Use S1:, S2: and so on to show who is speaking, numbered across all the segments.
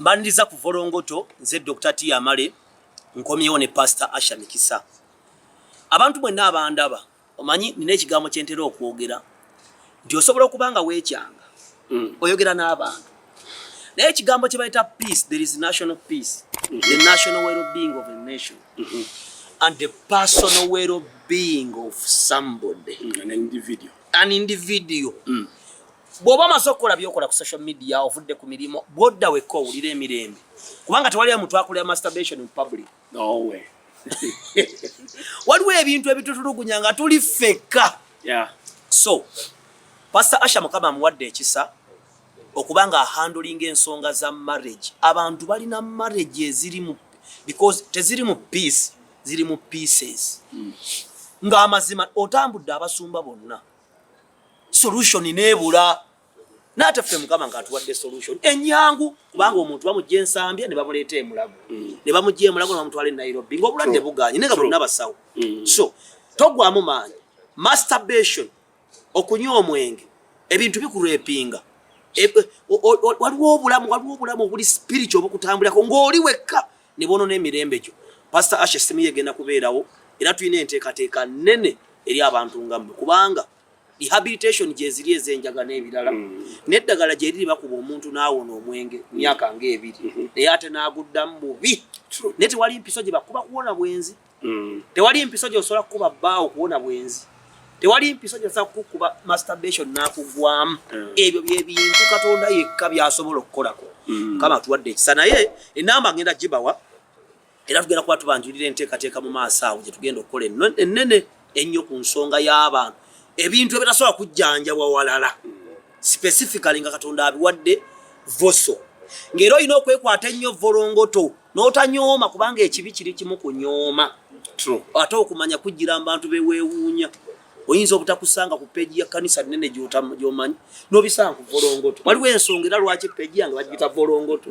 S1: Mbaniriza ku Volongoto, nze Dokita Tia Male, nkomyewo ne Pasita Asha Mikisa. Abantu mwenna abandaba, omanyi nina ekigambo kye ntera okwogera nti osobola okuba nga weekyanga mm. oyogera n'abantu naye ekigambo kye bayita peace there is national peace mm -hmm. the national well-being of a nation mm -hmm. and the personal well-being of somebody mm, an individual, an individual. Mm. bw'oba omaze okukola byokola ku social media ovudde ku mirimu bwodda wekka owulira emirembe kubanga tewaliyo muntu akolera masturbation in public nowe
S2: waliwo
S1: ebintu ebitutulugunya nga tuli ffekka
S2: so
S1: pastor asha mukama amuwadde ekisa okuba nga ahandulinga ensonga za marriage abantu balina marriage eziri mu because teziri mu peace ziri mu pieces mm. ng'amazima otambudde abasumba bonna solution nebula nate ffe mukama nga atuwadde solution enyangu kubanga omuntu bamujja ensambya ne bamuleeta emulago mm. ne bamujja emulago ne bamutwala e nairobi nga obulwadde buganye naye nga bonna basawo mm. so togwamu maanyi masturbation okunywa omwenge ebintu bikurepinga e, waliwo obulamu waliwo obulamu obuli spiritual obukutambulirako ng'oli wekka ne boonona emirembe gyo. Pasita Asha essimu ye egenda kubeerawo era tulina enteekateeka nnene eri abantu nga mmwe kubanga rehabilitation gyeziri ezenjaga n'ebirala mm. n'eddagala gye liri bakuba omuntu n'awona omwenge mm. myaka ng'ebiri mm-hmm. naye ate n'aguddamu bubi naye tewali mpiso gye bakuba kuwona bwenzi mm. tewali mpiso gyosobola kukuba bbaawo kuwona bwenzi tewali mpiso gyosobola kukuba masturbation nakugwamu mm. ebyo byebintu katonda yekka byasobola okukolako mm. kama tuwadde ekisa naye enamba ngenda gibawa era tugenda kuba tubanjulira enteekateeka mu maaso awo gyetugenda okukola ennene ennyo ku nsonga y'abantu ebintu ebitasobola kujjanjabwa walala specifically nga katonda abiwadde voso ng'era olina okwekwata ennyo volongoto n'otanyooma kubanga ekibi kiri kimu kunyooma ate okumanya kujjira mubantu beweewuunya oyinza obutakusanga ku peegi ya kanisa nene gyomanyi nobisanga ku volongoto waliwo ensonga era lwaki peegi yange bagiyita volongoto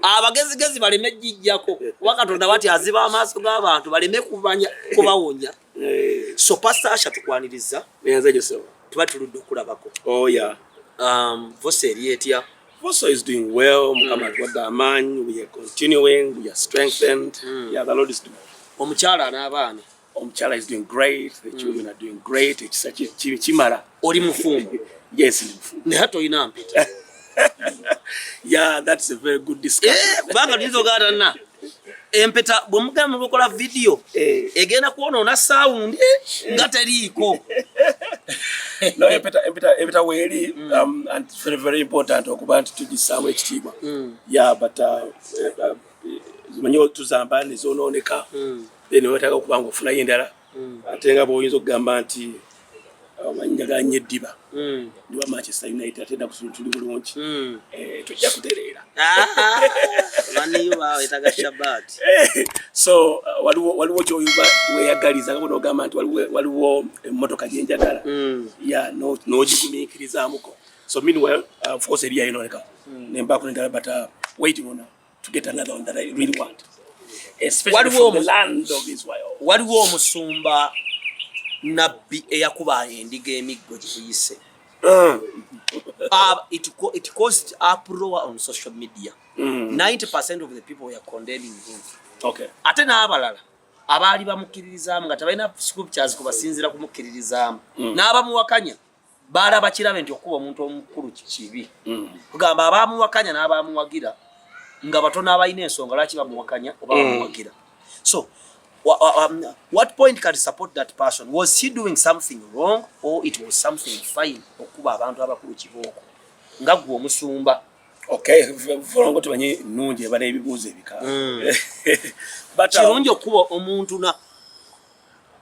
S1: abagezigezi baleme jijjako kuba katonda bati aziba amaaso g'abantu baleme kumanya kubawonya Eh, so Pastor Asha tukwaniriza. Eyanza je so. Tuba tuludde okulabako. Oh yeah.
S2: Um, Vosa
S1: eri etya? Vosa is doing
S2: well. Mm. Mukama tuwadde amaanyi. We are continuing. We are strengthened. Mm. Yeah, the Lord is doing. Omukyala n'abaana.
S1: Omukyala is doing
S2: great. The mm. children mm. are doing great. Ekisa kimala. Oli mufumbo?
S1: Yes, ndi mufumbo.
S2: Naye tolina mpeta. Yeah, that's a very good discussion. Eh, kubanga tuyinza ogaata na
S1: empeta bwe mugamba mukola vidiyo eh. egenda kwonoona sawundi eh. nga teriiko.
S2: No, empeta, empeta, empeta weeri mm. um, and very, very important okuba nti tugisaawo ekitiibwa. Mm. Yeah, but uh, uh, uh, manyi tuzamba ne zoonooneka. Mm. Then wetaaga okuba nga ofunayo endala. mm. ate nga bwoyinza okugamba nti amannya ganye eddiba mm. ndiwa manchester united ate da kusula tuli bulungi mm. eh, tujja kutereera ah, eh, so uh, waliwo kyoyuba weyagaliza nga bonogamba nti waliwo emotoka gyenjagala ya nogigumiikirizamuko so meanwhile uh, force eriyayo noleka nembakunegala but uh, waiting on waliwo omusumba
S1: nabbi eyakuba endiga emiggo giyise mm. ah, it, it caused uproar on social media mm. 90 percent of the people were condemning him okay. ate
S2: n'abalala
S1: abaali bamukkiririzaamu nga tebalina scriptures kubasinzira kumukkiririzaamu mm. n'abamuwakanya baalaba kirabe nti okukuba omuntu omukulu kibi mm. kugamba abaamuwakanya n'abaamuwagira nga batono abalina ensonga lwaki bamuwakanya oba mm. bamuwagira so um, what point can support that person was he doing something wrong or it was something fine okukuba abantu abakulu kibooko nga gwe omusumba okolongo
S2: tumanyi nungi ebala ebibuuzo ebika
S1: mm. kirungi okukuba omuntu na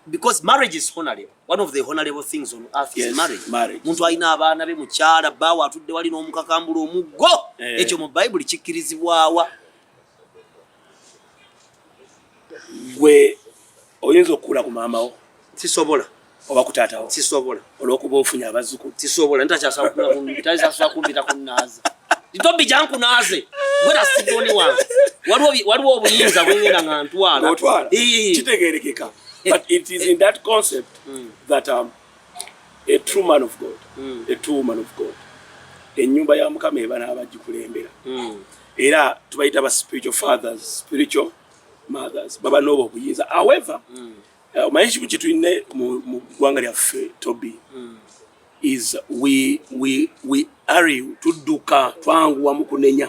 S1: because marriage is honorable one of the honorable things on earth yes, is marriage, marriage. muntu alina abaana be mukyala baawo atudde wali n'omukakambula omuggo eh. ekyo mu bayibuli kikkirizibwawa
S2: gwe oyinza okukuula ku maamawo sisobola
S1: oba ku taatawo
S2: sisobola olwokuba
S1: ofunye
S2: abazukulu tisobola
S1: ntakyasakumbita kunaaza ntobi jankunaaze gwera sigoni wange waliwo obuyinza bwengenda nga ntwala
S2: kitegerekeka but it is in that concept mm. that um, a true man of god mm. a true woman of god enyumba ya mukama eba n'abagikulembera mm. era tubayita ba spiritual fathers spiritual mothers baba n'obwo obuyinza however mm. Eh, omanyi ekimu kyetulina mu ggwanga lyaffe tobi hmm. is we we we are tudduka twanguwa mu kunenya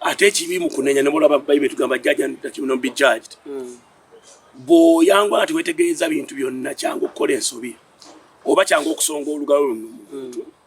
S2: ate ekibi mu kunenya ne mulaba bayibuli tugamba judge and that you not be judged hmm. bw'oyangwa nga tewetegeeza bintu byonna kyangu okukola ensobi oba kyangu okusonga olugalo luno hmm.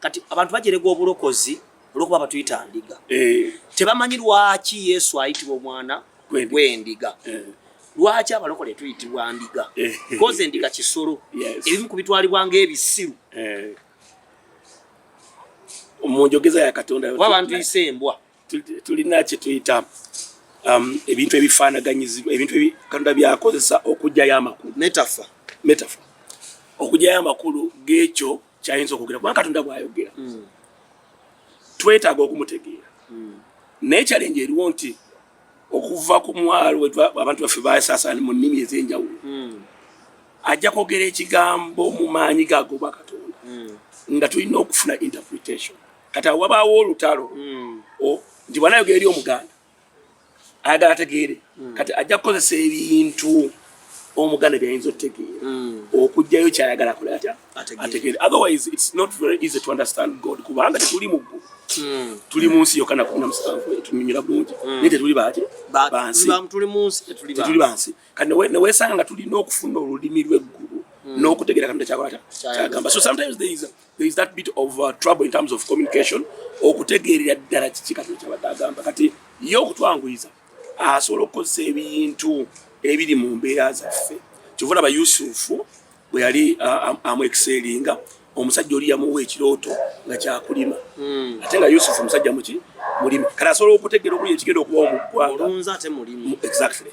S1: kati abantu bajerega obulokozi olwokuba batuyita ndiga eh. tebamanyi lwaki yesu ayitibwa omwana gwendiga eh. lwaki abalokole tuyitibwa ndiga eh. koze ndiga kisolo ebimu ku bitwalibwa ngaebisiru
S2: munjogeza ya katonda wabantu ise embwa
S1: tulina
S2: kyetuyita um, ebintu ebifanaganyizibwa ebintu katonda byakozesa okugyayo amakulu metafa metafa okugyayo amakulu gekyo kyayinza okwogera kubanga katonda bwayogera mm. twetaaga okumutegeera mm. naye kyalenje eriwo nti okuva ku mwalo abantu baffe basasana mu nnimi ez'enjawulo mm. ajja kwogera ekigambo mu maanyi gagoba katonda nga tulina okufuna interpretation kati awo wabaawo olutalo nti bwanayogera eri omuganda ayagala ategeere mm. kati ajja kukozesa ebintu omuganda byayinza otegeera mm. okugjayo kyayagala kola atya ategeere otherwise its not very easy to understand god kubanga tetuli mu ggulu mm. tuli mu nsi yokana kumi namusanvu etunyumira bulungi naye tetuli baki
S1: bansitetuli bansi
S2: kati newesanga nga tulina okufuna olulimi lweggulu n'okutegeera katonda kyakola ta kyagamba so sometimes there is a there is that bit of uh, trouble in terms of communication okutegeerera ddala kiki kati kyabadde agamba kati ye okutwanguyiza asobola okukozesa ebintu ebiri mu mbeera zaffe kyova laba yusufu bwe yali uh, amuexelinga omusajja oli yamuwa ekirooto nga kyakulima hmm. ate nga yusufu omusajja muki mulimi kati asobola okutegeera okuli ekigenda okuba omuggwanga exactly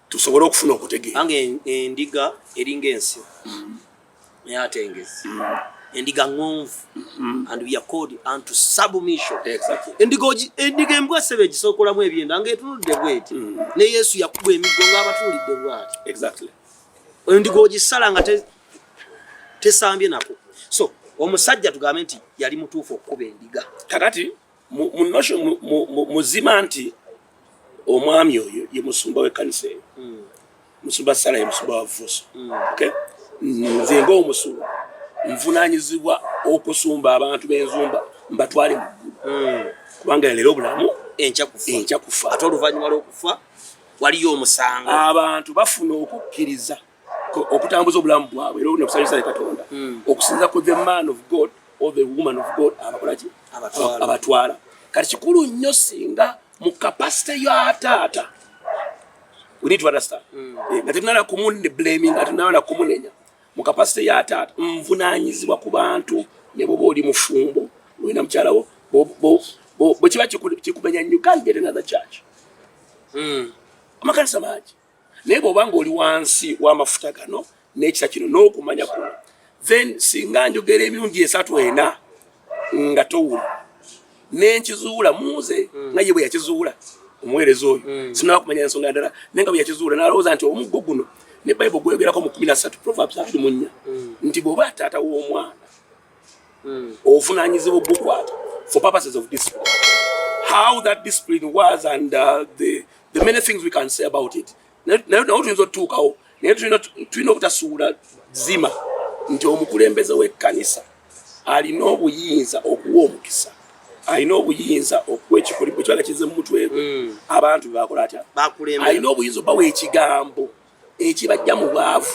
S1: tusobole okufuna
S2: okutegeera ange endiga
S1: eringa ensi mm-hmm. naye atengezi mm-hmm. endiga ngonvu mm-hmm. and we are called unto submission endiga
S2: endiga embwa
S1: sebe gisokolamu ebyenda nga etunudde bweti ne yesu yakuba emiggo nga abatulidde bwati endiga ogisala nga tesambye nako so omusajja tugambe nti yali mutuufu okukuba endiga kakati
S2: muzima nti omwami oyo ye musumba w'ekkanisa eyo hmm. musumba sala ye musumba wa vusu hmm. nze ngaomusumba nvunanyizibwa okusumba abantu b'enzumba mbatwale mu ggulu hmm. kubanga yaleero obulamu enkya kufa ate oluvannyuma lw'okufa
S1: waliyo omusango abantu bafuna
S2: okukkiriza okutambuza obulamu bwabwe era ne kusanyusa ne Katonda hmm. okusinza ku the man of God or the woman of God abakola ki abatwala kati kikulu nnyo singa mu capacity ya taata we need to understand hmm. eh, nga tetunala kumune blaming nga tetunala kumunenya mu capacity ya taata nvunanyizibwa ku bantu ne boba oli mufumbo olina mukyalawo bwe kiba kikumenya new can get another church hmm. amakanisa mangi naye bwoba nga oli wansi w'amafuta gano n'ekisa kino n'okumanya kuno then singa njogera emirundi esatu ena nga towula nenkizuula muze hmm. nga ye bwe yakizuula omuweereza oyo hmm. sinaba kumanya ensonga ndala naye nga bwe yakizuula nalowooza nti omuggo guno ne bayibuli gweyogerako mu kumi na ssatu proverbs abiri mu nnya hmm. nti bw'oba taata w'omwana mm. obuvunaanyizibwa obukwata for purposes of discipline how that discipline was and uh, the, the many things we can say about it naye tuyinza otutuukawo naye tulina obutasuula zima nti omukulembeze w'ekkanisa alina obuyinza okuwa omukisa alina obuyinza okuwa ekikolimo kyala kize mumutwe gwe mm. abantu bebakola atya alina obuyinza obawa ekigambo ekibajja mu bwavu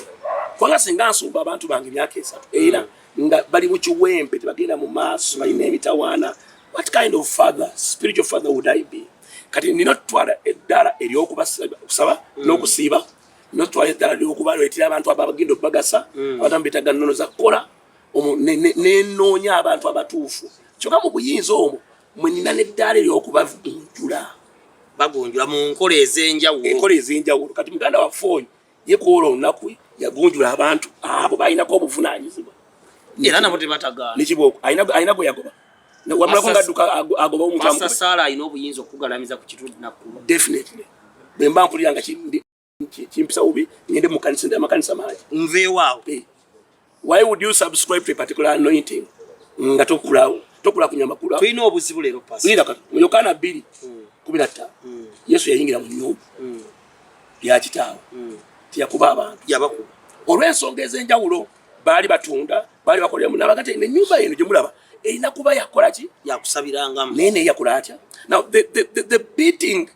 S2: kubanga singa nsumba abantu bange emyaka esatu era hmm. nga bali mu kiwempe tebagenda mu maaso balina emitawaana what kind of father spiritual father would i be kati nina otutwala eddala eryokubakusaba hmm. n'okusiiba notwala eddala lyokubaletera abantu ababagenda okubagasa hmm. abantu ambetaga nnono zakukola nenoonya abantu abatuufu kyoka mu buyinza omwo mwe nina n'eddaala ery'okubagunjula bagunjula
S1: mu nkola ez'enjawulo enkola ez'enjawulo
S2: kati muganda waffe oyo ye kuwola olunaku yagunjula abantu abo balinako obuvunaanyizibwa era nabo
S1: tebatagaana nekibooko alina
S2: gwe yagoba wamulako ngadduka agoba omutamu saala alina obuyinza
S1: okukugalamiza ku kitundu nakku definitely
S2: bwe mba mpulira nga kimpisa ubi ngende mukanisa ndi amakanisa mangi nveewaawo
S1: eh. why
S2: would you subscribe to a particular anointing nga tokula tokula kunya makula tulina obuzibu lero pasi
S1: nira kati mu yokana 2
S2: 15 hmm. yesu yayingira mu nyumba hmm. ya kitaawo hmm. tiyakuba abantu yabakuba
S1: olw'ensonga
S2: ez'enjawulo baali batunda baali bakolera mu nabaga te enyumba yenu gye mulaba erina kuba yakola ki yakusabirangamu naye
S1: naye yakula atya
S2: now the, the, the, the beating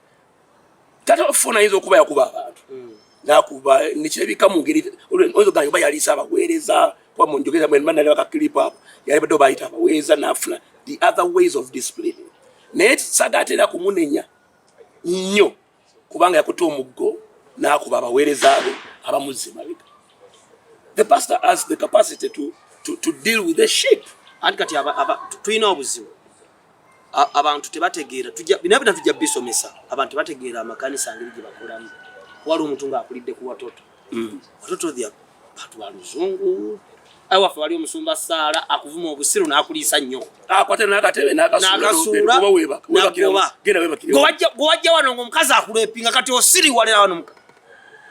S2: tata wafuna ayinza okuba yakuba abantu hmm. nakuba nekirabika mu ngeri oyo gange oba yaliisa abaweereza kuba mu njogeza mwe mba nalaba kakilipu ako yali badde obayita abaweereza nafuna the other ways of discipline naye sagaatera kumunenya nnyo kubanga yakuta omuggo nakuba abaweereza be abamuzza emabega the pastor has the capacity to, to, to deal with the sheep anti kati
S1: tulina obuzibu abantu tebategeera binabina tujja bisomesa abantu bategeera amakanisa ngeri gye bakolamu wali omuntu ng'akulidde ku watoto mm. watoto the bantu ba luzungu awaffe wali omusumba saala akuvuma obusiru n'akuliisa nnyo
S2: gwewajja wano ngaomukazi
S1: akulepinga kati osiriwalera wano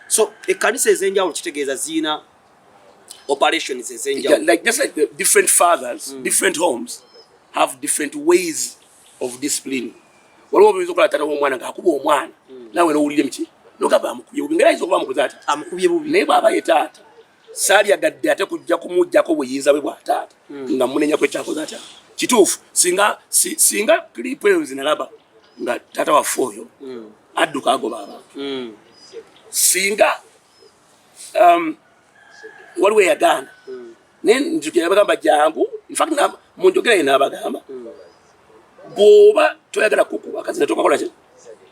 S1: so ekkanisa ez'enjawulo kitegeeza ziina operations ezenjawulo yeah, like just like the different
S2: fathers mm. different homes have different ways of discipline waliwo obuyinza okola tata womwana ngaakuba omwana mm. nawe nowulire mki nogamba amukubye bubi ngeri ayinza okuba amukuza ati amukubye bubi naye bwaba
S1: ye taata
S2: salyagadde ate kujja kumujjako buyinza bwe bwa taata mm. nga munenyako ekyakoze atya kituufu singa si, singa clip eyo zinalaba nga taata waffe oyo mm. adduka agoba abantu mm. singa um, waliwo eyagaana naye nzukira bagamba jangu infact mu njogera ye naabagamba bw'oba toyagala kukuba kazi ne tokakola ki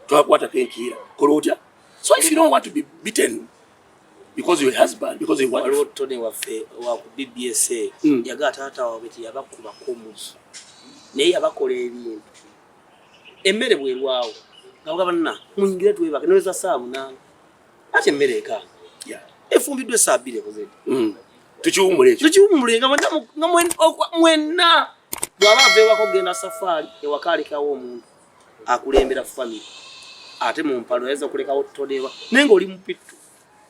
S2: tokakwatako enkiira kola otya so if you don't want to be beaten because your husband because your wife waliwo tone waffe
S1: wa ku bbsa hmm. yagala taata waabwe ti yabakubako omugi naye yabakola ebintu emmere bwerwawo nga bwabanna muyingire twebake noleza saa munaana Ate mmere eka. Yeah. Efumbiddwa essaa bbiri ekoze. Mm. Tukiwummule ekyo. Tukiwummule nga mwenna nga mwenna bw'aba aveewako kugenda safaari ewaka alekawo omuntu akulembera famire ate mu mpalo yayinza okulekawo todewa naye ng'oli mupittu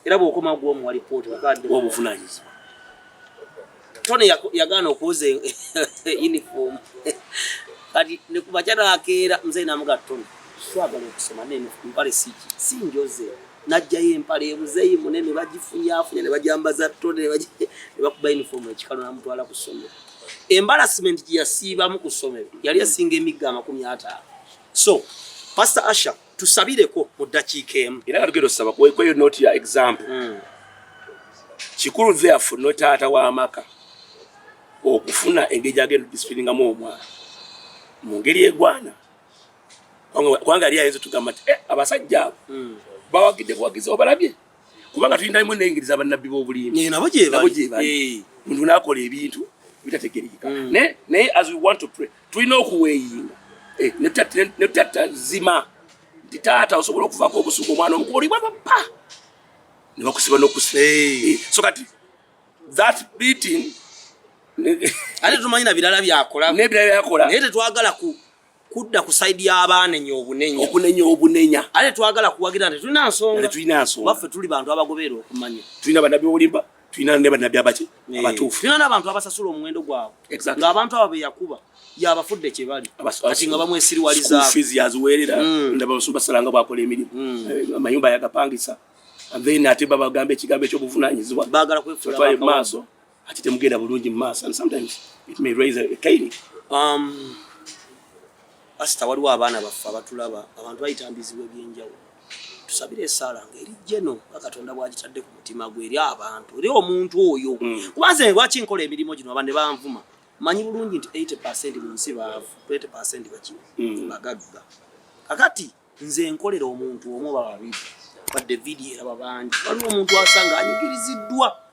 S1: era bw'okomawo gw'omuwa lipooti obuvunanyizibwa Tony yagaana okuuza uniform kati ne ku makya nakeera mzee namuga Tony twagala okusoma naye mpale siki si njoze najjayo empale emuzeeyi munene bagifunyafunya ne bajambaza Tony ne bakuba uniform ekikalo namutwala ku ssomero embarrassment gye yasiibamu ku ssomero yali esinga emigga amakumi ataano so pastor asha tusabireko mu ddakiika emu era nga tugenda osaba
S2: kweyo noti ya example hmm. kikulu therefor no taata w'amaka okufuna engeri gyagenda odisipiringamu omwana mu ngeri egwana kubanga yali ayinza otugamba nti eh, abasajja abo hmm. bawagidde buwagizi obalabye kubanga tulina limu nengeri zabannabbi b'obulimbi eh, nabo gyebali eh.
S1: muntu nakola
S2: ebintu bitategerekeka mm. naye as we want to pray tulina okuweyinga eh, netutatta zima nti taata osobola okuvako obusuku omwana omukuba olibwa papa nebakusiba nokusiba so kati that beating
S1: ate tumanyi na birala byakola nebirala byakola naye
S2: tetwagala ku
S1: kudda ku side y'abaanenya obunenya okunenya obunenya
S2: ate twagala
S1: kuwagira nti tulina nsonga tulina nsonga baffe tuli bantu abagoberera okumanya tulina banabi obulimba
S2: tulina ne banabi abaki eh, abatuufu tulina n'abantu abasasula
S1: omuwendo gwabwe exactly. ng'abantu abo be yakuba yabafudde kye bali kati nga bamwesiriwaliza fees yaziweerera
S2: mm. ndaba basumba salanga bwakola emirimu mm. eh, amayumba yagapangisa then ate babagamba ekigambo eky'obuvunaanyizibwa baagala kwefuula
S1: maaso
S2: ate temugenda bulungi mu maaso and sometimes it may raise a kaini um, pasita waliwo abaana baffe abatulaba abantu bayita mbizibu ebyenjawulo tusabire
S1: esaala nga eri jeno nga katonda bwagitadde ku mutima gwe eri abantu eri omuntu oyo mm. kuba nze lwaki nkola emirimu gino abande banvuma manyi bulungi nti 80 percent mu nsi baavu 20 percent bakino mm. bagagga kakati nze nkolera omuntu omu bababiri badde vidiyo eraba bangi waliwo omuntu asanga anyigiriziddwa